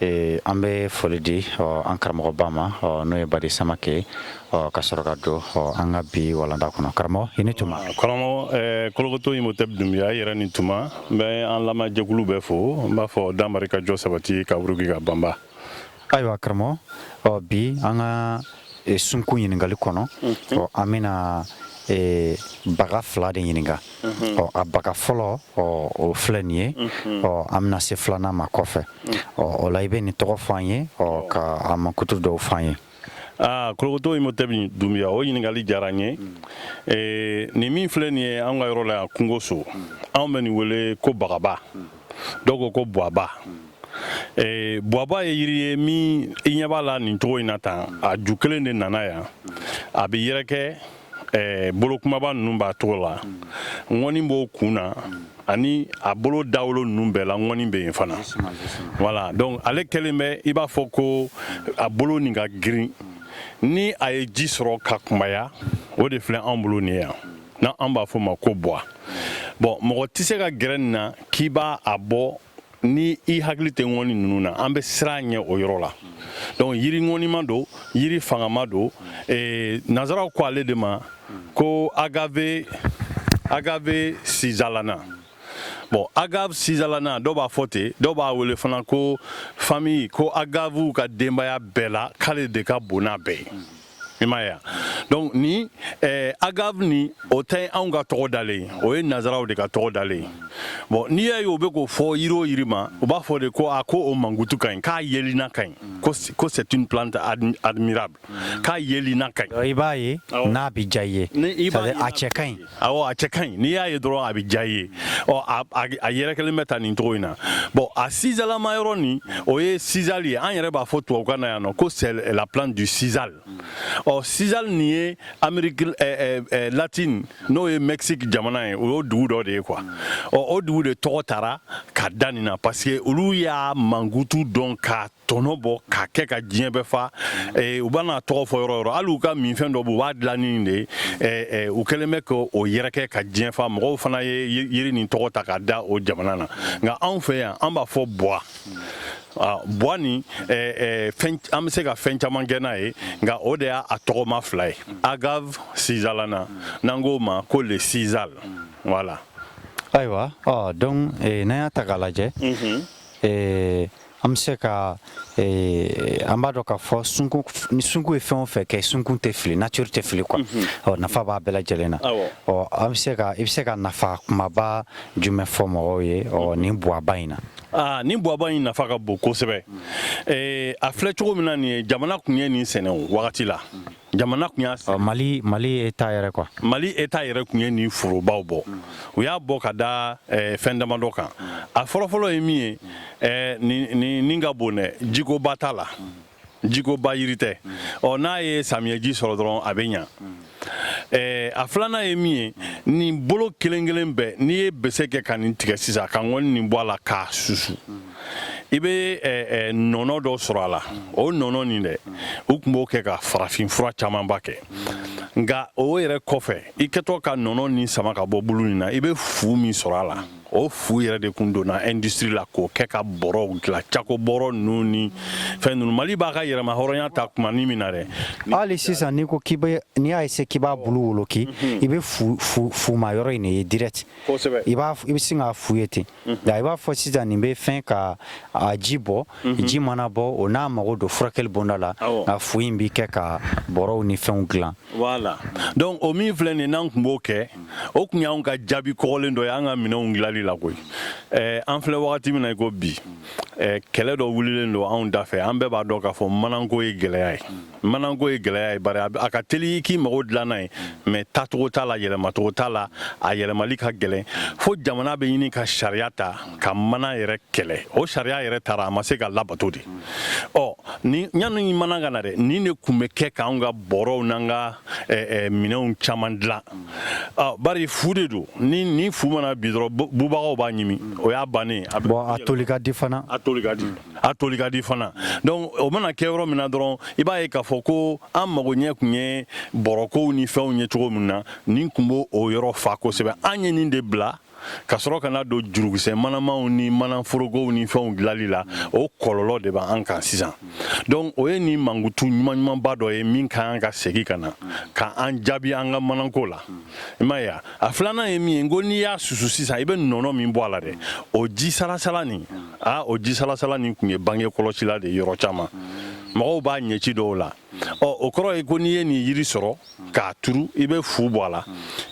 Ee an bɛ foli di ɔ an karamɔgɔba ma ɔ n'o ye badi samakɛ ɔ ka sɔrɔ ka don ɔ an ka bi walanda kɔnɔ karamɔgɔ i ni tuma karamɔgɔ kolokoto imotɛbi dunbiya i yɛrɛ ni tuma n bɛ an lamɛnjɛkulu bɛɛ fo n b'a fɔ danmaari ka jɔ sabati ka wuruki ka banba ayiwa karamɔgɔ ɔ bi an ka sunkun ɲininkakali kɔnɔ ɔ an bɛna baga fila de ɲininka ɔ a baga fɔlɔ o filɛ nin ye ɔ an bɛna se filanan ma kɔfɛ ɔ o la i bɛ nin tɔgɔ fɔ an ye ɔ ka a mankutu dɔw fɔ an ye aa kolokoto imotɛbi dunbiya o ɲininkali diyara n ye ee, nin min filɛ nin ye an ka yɔrɔ la yan kungo so anw bɛ nin wele ko bagaba dɔw ko ko buwaba ee, buwaba ye yiri ye min i ɲɛ b'a la nin cogo in na tan a ju kelen de nana yan a bɛ yɛrɛkɛ ɛɛ bolo kumaba ninnu b'a cogo la ŋɔni b'o kun na ani a bolo dawolo ninnu bɛɛ la ŋɔni bɛ yen fana voilà donc ale kɛlen bɛ i b'a fɔ ko a bolo nin ka girin ni a ye ji sɔrɔ ka kunbaya o de filɛ anw bolo nin yan na an b'a fɔ ma ko bwa bon mɔgɔ tɛ se ka gɛrɛ nin na k'i b'a a bɔ ni i hakili tɛ ŋɔni ninnu na an bɛ siran a ɲɛ o yɔrɔ la donc yiri ŋɔnima don yiri fangama don eh, nazaraw ko ale de ma ko agave agave sisalana bon agave sisalana dɔw b'a fɔ ten dɔw b'a wele fana ko famille ko agavew ka denbaya bɛɛ la k'ale de ka bon n'a bɛɛ ye i m'a ye donc nin eh, agave nin o tɛ anw ka tɔgɔ dalen ye o ye nazaraw de ka tɔgɔ dalen ye bon n'i y'a ye o bɛ k'o fɔ yiri o yiri ma u b'a fɔ de ko a ko o mankutu ka ɲi k'a yelina ka ɲi ko c'est une plante admirable k'a yelina ka ɲi i b'a ye n'a bɛ diya i ye a cɛ ka ɲi A cɛ ka ɲi n'i y'a ye dɔrɔn a bɛ diya i ye a yɛrɛ kɛlen bɛ tan nin cogo in na bon a sisalama yɔrɔ nin o ye sisal ye an yɛrɛ b'a fɔ tubabukan na yan nɔ ko c'est la plante du sisal ɔ sisal nin ye amérique latine n'o ye mexique jamana ye o y'o dugu dɔ de ye quoi ɔ o dugu de tɔgɔ taara ka da nin na parce que olu y'a mankutu dɔn ka tɔnɔ bɔ k'a kɛ ka diɲɛ bɛɛ fa eh, u bɛn'a tɔgɔ fɔ yɔrɔ yɔrɔ hali u ka minfɛn dɔ bɛ u b'a dilan nin de eh, eh, u kɛlen bɛ k'o yɛrɛkɛ ka diɲɛ fa mɔgɔw fana ye yiri nin tɔgɔ ta ka da o jamana na nka anw fɛ yan an b'a fɔ bwa ah, bwa nin an bɛ se ka fɛn caman kɛ n'a ye nka o de y'a tɔgɔma fila ye agave sisalana n'an k'o ma ko le sisal voilà ayiwa ɔ donc n'an y'a ta k'a lajɛ An bɛ se ka an b'a dɔn k'a fɔ ni sunkun ye fɛn o fɛn kɛ sunkun tɛ fili nature tɛ fili quoi ɔ nafa b'a bɛɛ lajɛlen na ɔ an bɛ se i bɛ se ka nafa kumaba jumɛn fɔ mɔgɔw ye ɔ ni buwaba in na ni buwaba in nafa ka bon kosɛbɛ a filɛ cogo min na nin ye jamana tun ye nin sɛnɛ wagati la jamana tun y'a sigi mali mali État yɛrɛ quoi mali État yɛrɛ tun ye nin forobaw bɔ u y'a bɔ ka da eh, fɛn damadɔ kan a fɔlɔfɔlɔ ye min ye eh, nin ka bon dɛ jikoba t'a la jikoba yiri tɛ ɔ n'a ye samiyɛji sɔrɔ dɔrɔn a bɛ ɲa eh, a filanan ye min ye nin bolo kelen kelen bɛɛ n'i ye bese kɛ ka nin tigɛ sisan ka ŋɔni nin bɔ a la k'a susu i bɛ nɔnɔ dɔ sɔrɔ a la o nɔnɔ nin dɛ u tun b'o kɛ ka farafin fura camanba kɛ nka o yɛrɛ kɔfɛ i kɛtɔ ka nɔnɔ nin sama ka bɔ bulu in na i bɛ fu min sɔrɔ a la o fu yɛrɛ de tun donna industrie la k'o kɛ ka bɔrɔw dilan cako bɔrɔ ninnu ni fɛn ninnu mali b'a ka yɛrɛmahɔrɔnya ta kuma ni min na dɛ hali sisan n'i ko k'i bɛ n'i y'a essayé k'i b'a bulu woloki mhm. i bɛ fuma yɔrɔ in de ye direct i b'a i bɛ sin k'a fu ye ten nka i b'a fɔ sisan nin bɛ fɛn ka a ji bɔ ji mana bɔ o n'a mago don furakɛli bonda la nka fu in bɛ kɛ ka bɔrɔw ni fɛnw dilan voilà donc o min filɛ nin n'an tun b'o kɛ o tun y'an ka jaabi kɔgɔlen dɔ y'an ka minɛnw dilanli la koyi an filɛ wagati min na i ko bi kɛlɛ dɔ wulilen don anw dafɛ an bɛɛ b'a dɔn k'a fɔ mananko ye gɛlɛya ye mananko ye gɛlɛya ye bari a ka teli k'i mago dilan n'a ye mais tacogo t'a la yɛlɛmacogo t'a la a yɛlɛmali ka gɛlɛn fo jamana bɛ ɲini ka sariya ta ka mana yɛrɛ kɛlɛ o sariya yɛrɛ taara a ma se ka labato de ɔ ni ɲani mana ka na dɛ nin de tun bɛ kɛ k'an ka bɔrɔw n'an ka minɛnw caman dilan bari fu de don ni ni fu mana bin dɔrɔn bubagaw b'a ɲimi o y'a bannen a toli ka di fana a toli ka di a toli ka di fana donc o mana kɛ yɔrɔ min na dɔrɔn i b'a ye k'a fɔ ko an mago ɲɛ kun ye bɔrɔkow ni fɛnw ye cogo min na nin kun b'o o yɔrɔ fa kosɛbɛ an ye nin de bila ka sɔrɔ ka na don jurukisɛ manamaw ni manaforogow ni fɛnw dilali la o kɔlɔlɔ de b'an kan sisan donc o ye nin mankutu ɲuman ɲumanba dɔ ye min ka kan ka segi ka na ka an jaabi an ka mananko la i m'a ye a filanan ye min ye ko n'i y'a susu sisan i bɛ nɔnɔ min bɔ a la dɛ o ji salasala nin aa o ji salasala nin tun ye bange kɔlɔsila de yɔrɔ caman mɔgɔw b'a ɲɛci dɔw la ɔ o kɔrɔ ye ko n'i ye nin yiri sɔrɔ k'a turu i bɛ fu bɔ a la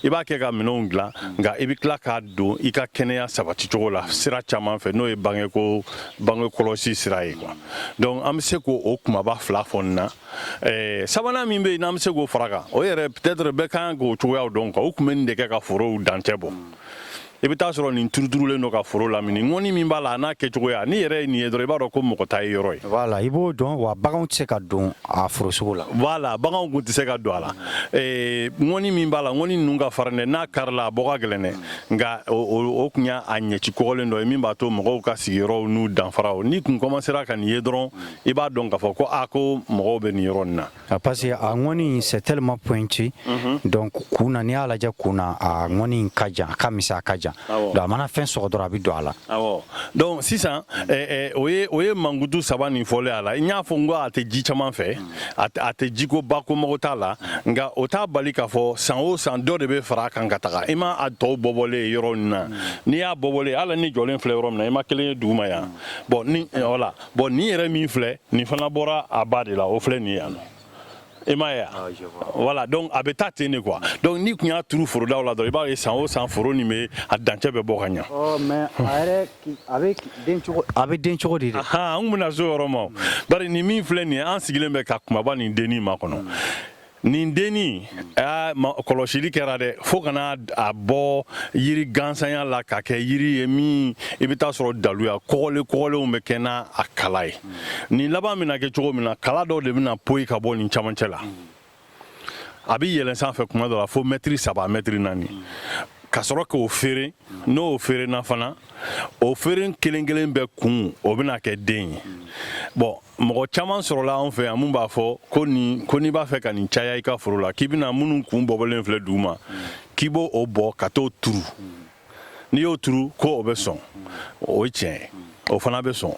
i b'a kɛ ka minɛnw dilan nka i bɛ tila k'a don i ka kɛnɛya sabati cogo la sira caman fɛ n'o ye bangeko bange kɔlɔsi sira ye quoi donc an bɛ se k'o o kumaba fila fɔ nin na ɛɛ sabanan min bɛ yen n'an bɛ se k'o fara kan o yɛrɛ peut-être bɛɛ kan k'o cogoyaw dɔn quoi u tun bɛ nin de kɛ ka forow dancɛ bɔ i bɛ taa sɔrɔ nin turuturulen don ka foro lamini ŋɔni min b'a la a n'a kɛcogoya ni yɛrɛ ye nin ye dɔrɔn i b'a dɔn ko mɔgɔ ta ye yɔrɔ ye voilà i b'o dɔn wa baganw tɛ se ka don a foro sugu la voilà baganw kun tɛ se ka don a la ŋɔni min b'a la ŋɔni ninnu ka farin dɛ n'a karila a bɔ ka gɛlɛn dɛ nka o kun y'a ɲɛci kɔgɔlen dɔ ye min b'a to mɔgɔw ka sigiyɔrɔw n'u danfaraw n'i kun kɔmansera ka nin ye dɔrɔn i b'a dɔn k'a fɔ ko a ko mɔgɔw bɛ nin yɔrɔ nin na Ah, parce que a ŋɔni in c'est tellement pointu mhm. donc kun na n'i y'a lajɛ kun na a ŋɔni in ka jan a ka misɛn a ka jan donc a mana fɛn sɔgɔ dɔrɔn a bɛ don a la awɔ donc sisan eh, eh, o ye o ye mankutu saba nin fɔlen a la n y'a fɔ n ko a tɛ ji caman fɛ mm. a tɛ jiko ba ko mago t'a la nka o t'a bali k'a fɔ san o san dɔ de bɛ fara a kan ka taga i ma a tɔw bɔbɔlen ye yɔrɔ min na mm. n'i y'a bɔbɔlen ye hali ni jɔlen filɛ yɔrɔ min na i ma kelen ye duguma yan mm. bon ni eh, voilà bɔn nin yɛrɛ min filɛ nin fana bɔra a ba de la o filɛ nin ye yan nɔ i m'a ye ah, voilà donc a bɛ taa ten de quoi donc n'i kun y'a turu forodaw la dɔrɔn i b'a ye san o san foro nin bɛ a dancɛ bɛ bɔ ka ɲa oh, mais a yɛrɛ a bɛ den cogo a bɛ den cogo di de an kun bɛna s'o yɔrɔ ma bari nin min filɛ nin ye an sigilen bɛ ka kumaba nin denni makɔnɔ hmm. nin denni kɔlɔsili kɛra dɛ fo ka na a bɔ yiri gansanya la ka kɛ yiri ye min i bɛ taa sɔrɔ daluya kɔgɔlen kɔgɔlenw bɛ kɛ n'a a kala ye nin laban bɛna kɛ cogo min na kala dɔ de bɛna poyi ka bɔ nin camancɛ la a bɛ yɛlɛn sanfɛ kuma dɔ la fo mɛtiri saba mɛtiri naani ka sɔrɔ k'o feere n'o feerena fana o feeren kelen kelen bɛɛ kun o bɛna kɛ den ye bɔn mɔgɔ caman sɔrɔla anw fɛ yan min b'a fɔ ko nin ko n'i b'a fɛ ka nin caya i ka foro la k'i bɛna minnu kun bɔbɔlen filɛ duguma k'i b'o o bɔ ka t'o turu n'i y'o turu ko o bɛ sɔn o ye tiɲɛ ye o fana bɛ sɔn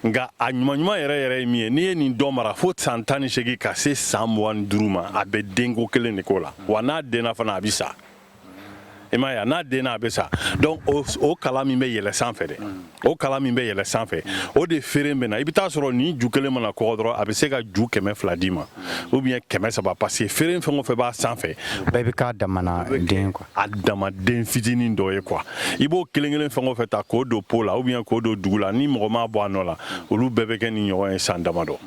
nka a ɲuman ɲuman yɛrɛ yɛrɛ ye min ye n'i ye nin dɔ mara fo san tan ni seegin ka se san mugan ni duuru ma a bɛ denko kelen de k'o la wa n'a denna fana a bɛ sa i m'a ye n'a denna a bɛ sa donc o kala min bɛ yɛlɛ sanfɛ dɛ o kala min bɛ yɛlɛ sanfɛ o de feeren bɛ na i bɛ taa sɔrɔ nin ju kelen mana kɔgɔ dɔrɔn a bɛ se ka ju kɛmɛ fila d'i ma ou bien kɛmɛ saba parce que feeren fɛn o fɛn b'a sanfɛ bɛɛ bɛ k'a damana den quoi a dama den fitinin dɔ ye quoi i b'o kelen kelen fɛn o fɛn ta k'o don po la ou bien k'o don dugu la ni mɔgɔ m'a bɔ a nɔ la olu bɛɛ bɛ kɛ nin ɲɔgɔn ye san damadɔ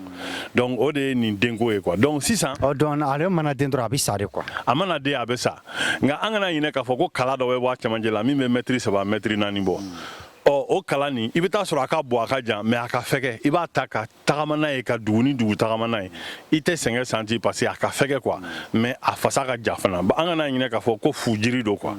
donc o de ye nin denko ye quoi donc sisan ɔ donc ale mana den dɔrɔn a bɛ sa de quoi a mana den a bɛ sa nka an kana ɲinɛ k'a fɔ ko kala dɔ bɛ bɔ a camancɛ la min bɛ mɛtiri saba mɛtiri naani bɔ ɔ o kala nin i bɛ taa sɔrɔ a ka bon a ka jan mais a ka fɛgɛ i b'a ta ka tagama n'a ye ka dugu ni dugu tagama n'a ye i tɛ sɛgɛn santi parce que a ka fɛgɛ quoi mais a fasa ka ja fana an kana ɲinɛ k'a fɔ ko fujiri don quoi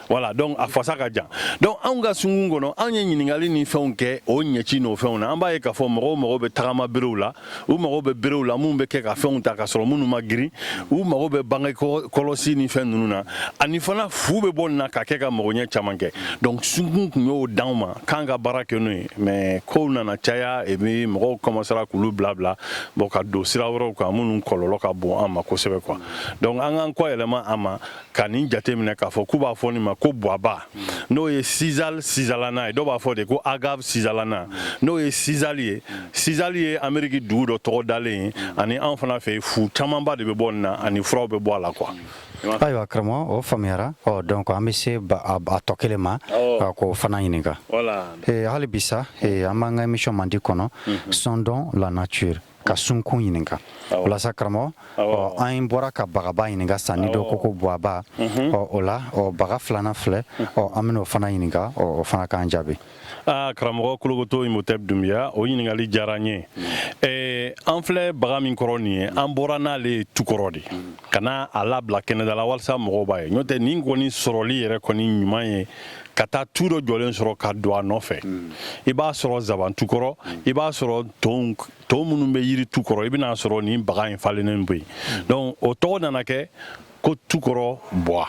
voilà donc a fasa ka jan donc anw ka sunkun kɔnɔ anw ye ɲininkali ni fɛnw kɛ o ɲɛci n'o fɛnw na an b'a ye k'a fɔ mɔgɔw mago bɛ tagama berew la u mago bɛ berew la minnu bɛ kɛ ka fɛnw ta ka sɔrɔ minnu ma girin u mago bɛ bange kɔlɔsi ni fɛn ninnu na ani fana fu bɛ bɔ nin na ka kɛ ka magoɲɛ caman kɛ donc sunkun tun y'o d'anw ma k'an ka baara kɛ n'o ye mais kow nana caya et puis mɔgɔw kɔmasara k'olu bila bila bon ka don sira wɛrɛw kan minnu kɔlɔlɔ ka bon an ma kosɛbɛ quoi donc an k'an kɔ yɛlɛma a ma ka nin jate minɛ k'a fɔ k'u b'a fɔ nin ma ko buwaba n'o ye sizal sizalana ye dɔw b'a fɔ de ko agave sizalana n'o ye sizali ye sizali ye ameriki dugu dɔ tɔgɔ dalen ye ani anw fana fɛ fu camanba de bɛ bɔ nin na ani furaw bɛ bɔ a la quoi ayiwa karamɔgɔ o faamuyara ɔ donc an bɛ se a tɔ kelen ma ka k'o fana ɲininka hali bi sa an b'an ka émission mandi kɔnɔ sondons la nature ka sunkun ɲininka walasa karamɔgɔ an bɔra ka bagaba ɲininka sa ni dɔ ko ko buwaba mhm. o la baga filanan filɛ mhm. an bɛna o fana ɲininka o fana k'an jaabi karamɔgɔ kologoto imhotep doumbia o ɲininkali diyara n ye mhm. an filɛ baga min kɔrɔ nin ye an bɔra n'ale ye tukɔrɔ de ka na a labila kɛnɛda la walasa mɔgɔw b'a ye n'o tɛ nin kɔni sɔrɔli yɛrɛ kɔni ɲuman ye ka taa tu dɔ jɔlen sɔrɔ ka don a nɔfɛ hmm. i b'a sɔrɔ zaban tu kɔrɔ hmm. i b'a sɔrɔ tonw minnu bɛ yiri tu kɔrɔ i bɛna a sɔrɔ nin baga in falennen bɛ yen hmm. donc o tɔgɔ nana kɛ ko tukɔrɔ buwa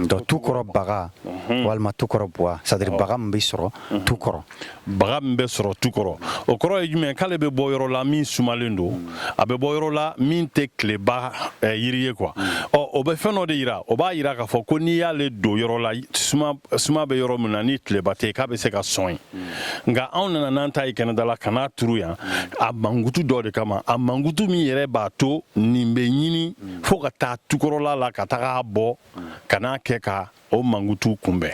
donc tukɔrɔ baga walima tukɔrɔ buwa c'est à dire baga min bɛ sɔrɔ tukɔrɔ baga min bɛ sɔrɔ tu kɔrɔ o kɔrɔ ye jumɛn k'ale bɛ bɔ yɔrɔ la min sumalen don a bɛ bɔ yɔrɔ la min tɛ tileba eh, yiri ye quoi ɔ o bɛ fɛn dɔ de yira o b'a yira k'a fɔ ko n'i y'ale don yɔrɔ la suma bɛ yɔrɔ min na ni tileba tɛ k'a bɛ se ka sɔn yen nka anw nana n'an ta ye kɛnɛda la ka n'a turu yan a mankutu dɔ de kama a mankutu min yɛrɛ b'a to nin bɛ ɲini fo ka taa tukɔrɔla la ka taga a bɔ ka n'a kɛ ka o mankutu kunbɛn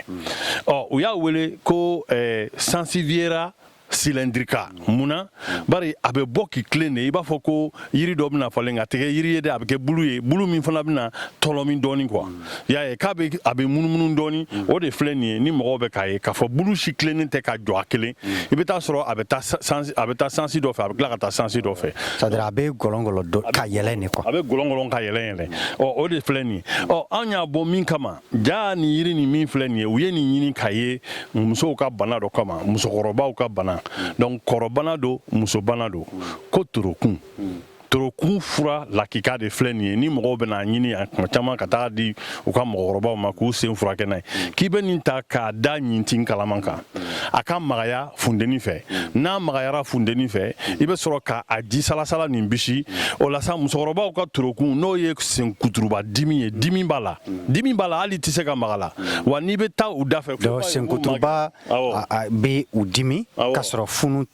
ɔ u y'a wele ko eh, sansevieria cylindrica mun na bari a bɛ bɔ k'i tilen de i b'a fɔ ko yiri dɔ bɛna falen nk'a tɛ kɛ yiri ye dɛ a bɛ kɛ bulu ye bulu min fana bɛna tɔlɔmi dɔɔni quoi y'a ye k'a bɛ a bɛ munumunu dɔɔni o de filɛ nin ye ni mɔgɔw bɛ k'a ye k'a fɔ bulu si tilennen tɛ ka jɔ a kelen i bɛ taa a sɔrɔ a bɛ taa sansi a bɛ taa sansi dɔ fɛ a bɛ tila ka taa sansi dɔ fɛ c'est à dire a bɛ gɔlɔngɔlɔ ka yɛlɛn de quoi a bɛ gɔlɔngɔlɔ ka yɛlɛn o de filɛ nin ye ɔ anw y'a bɔ min kama jaa nin yiri nin min filɛ nin ye u ye nin ɲini k'a ye musow ka bana dɔ kama musokɔrɔbaw ka bana donc kɔrɔbana don musobana don ko torokun torokun fura lakika de filɛ nin ye ni mɔgɔw bɛna a ɲini kuma caman ka taga a di u ka mɔgɔkɔrɔbaw ma k'u sen furakɛ n'a ye k'i bɛ nin ta k'a da ɲintin kalaman kan a ka magaya funteni fɛ n'a magayara funteni fɛ i bɛ sɔrɔ ka a ji salasala nin bisi o la sa musokɔrɔbaw ka torokun n'o ye sen kuturuba dimi ye dimi b'a la dimi b'a la hali tɛ se ka maga a la wa n'i bɛ taa u da fɛ sen kuturuba bɛ u dimi ka sɔrɔ funu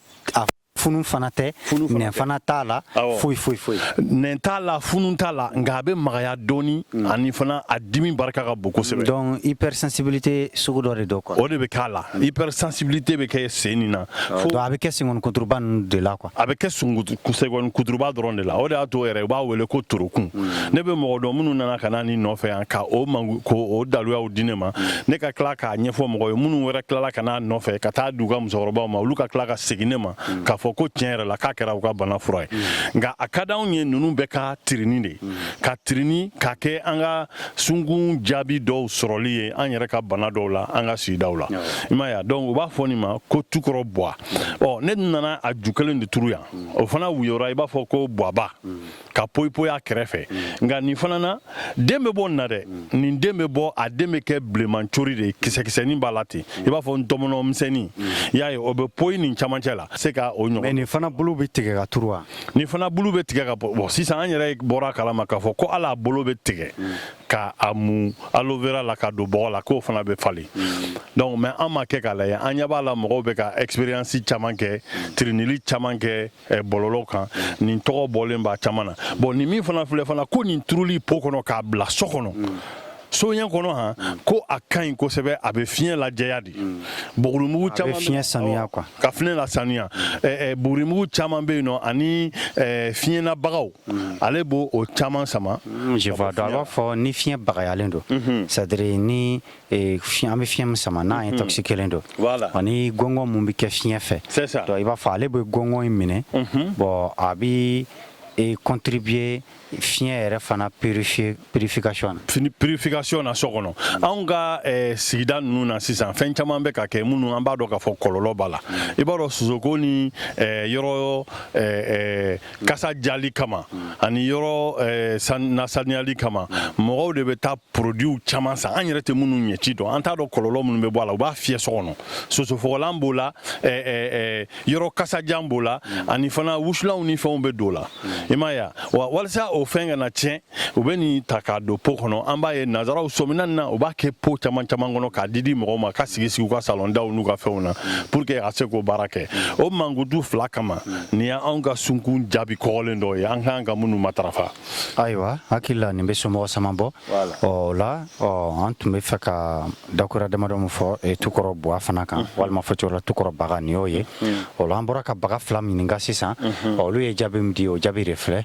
funu fana tɛ nɛn fana t'a la foyi foyi foyi nɛn t'a la funu t'a la nka a bɛ magaya dɔɔni mm. ani fana a dimi barika ka bon kosɛbɛ donc hypersensibilité sugu dɔ de don quoi o de bɛ k'a la mm. hypersensibilité bɛ kɛ sen nin na fo a bɛ kɛ senkɔni kuturuba ninnu de la quoi a bɛ kɛ senkɔni kuturuba dɔrɔn de la o de y'a to yɛrɛ u b'a wele ko torokun mm. ne bɛ mɔgɔ dɔn minnu nana ka na nin nɔfɛ yan ka o mangu ko o daluyaw di ne ma ne ka tila k'a ɲɛfɔ mɔgɔ ye minnu wɛrɛ tilala ka na nɔfɛ ka taa a di u ka musokɔrɔbaw ma olu ka tila ka segin ne ma mm. k'a fɔ ko tiɲɛ yɛrɛ la k'a kɛra u ka bana fura ye mm. nka a ka di anw ye ninnu bɛɛ ka tirini de mm. ka tirini k'a kɛ an ka sunkun jaabi dɔw sɔrɔli ye an yɛrɛ ka bana dɔw la an ka sigidaw la i m'a ye donc u b'a fɔ nin ma ko tukɔrɔ bwa ɔ ne nana a ju kelen de turu yan o fana woyora i b'a fɔ ko bwaba ka poyipoyi a kɛrɛfɛ nka nin fana na den bɛ bɔ nin na dɛ nin den bɛ bɔ a den bɛ kɛ bilenman cori de ye kisɛkisɛnin b'a la ten i b'a fɔ ntɔmɔnɔ misɛnnin i y'a ye o bɛ poyi nin camancɛ la se ka o ɲɔgɔn nin fana bulu bɛ tigɛ ka turu wa nin fana bulu bɛ tigɛ ka bɔ bon sisan an yɛrɛ bɔra a kalama k'a fɔ ko hali a bolo bɛ tigɛ ka a mun aloe vera la ka don bɔgɔ la k'o fana bɛ falen donc mais an m'a kɛ k'a lajɛ an ɲɛ b'a la mɔgɔw bɛ ka expérience caman kɛ tirinili caman kɛ Eh, bɔlɔlɔ kan mm. nin tɔgɔ bɔlen b'a caman na bon nin min fana filɛ fana ko nin turuli pot kɔnɔ k'a bila so kɔnɔ mm. soɲɛ kɔnɔ han mm. ko a ka ɲi kosɛbɛ a bɛ fiɲɛ lajɛya de bugurimugu caman fiɲɛ sanuya quoi ka fiɲɛ lasanuya eh, eh, bugurimugu caman bɛ yen nɔ ani fiɲɛ na bagaw ale b'o o caman sama je vois donc a b'a fɔ ni fiɲɛ bagayalen don c'est à dire ni ee fiɲɛ an bɛ fiɲɛ min sama n'a mhm. intoxiquélen don ani gɔngɔn min bɛ kɛ fiɲɛ fɛ donc i b'a fɔ ale bɛ gɔngɔn in minɛ mhm. bon a bɛ e contribuer fiɲɛ yɛrɛ fana purification na fiɲɛ purification na so kɔnɔ anw ka eh, sigida ninnu na sisan fɛn caman bɛ ka kɛ minnu an b'a dɔn k'a fɔ kɔlɔlɔ b'a la mm. i b'a dɔn sosoko ni eh, yɔrɔ eh, kasa diyali kama ani yɔrɔ eh, nasaniyali kama mɔgɔw de bɛ taa produitw caman san an yɛrɛ tɛ minnu ɲɛci dɔn an t'a dɔn kɔlɔlɔ minnu bɛ bɔ a la u b'a fiyɛ so kɔnɔ sosofagalan b'o la eh, eh, yɔrɔ kasadiyalan b'o la ani fana wusulanw ni fɛnw bɛ don o la i m'a ye wa walisa o fɛn kana tiɲɛ u bɛ nin ta k'a don po kɔnɔ an b'a ye nanzaraw sɔmina na u b'a kɛ po caman caman kɔnɔ k'a didi mɔgɔw ma ka sigi sigi u ka salɔndaw n'u ka fɛnw na pour que a se k'o baara kɛ o mankutu fila kama nin y' anw ka sunkun jaabi kɔgɔlen dɔ ye an ka kan ka minnu matarafa ayiwa hakili la nin bɛ somɔgɔ sama bɔ o la an tun bɛ fɛ ka dakura damadɔ min fɔ e tukɔrɔ buwa fana kan mm-hmm. walima fɔcogo la tukɔrɔ baga nin y'o ye mm-hmm. o la an bɔra ka baga fila ɲininka sisan mm-hmm. olu ye jaabi min di o jaabi de filɛ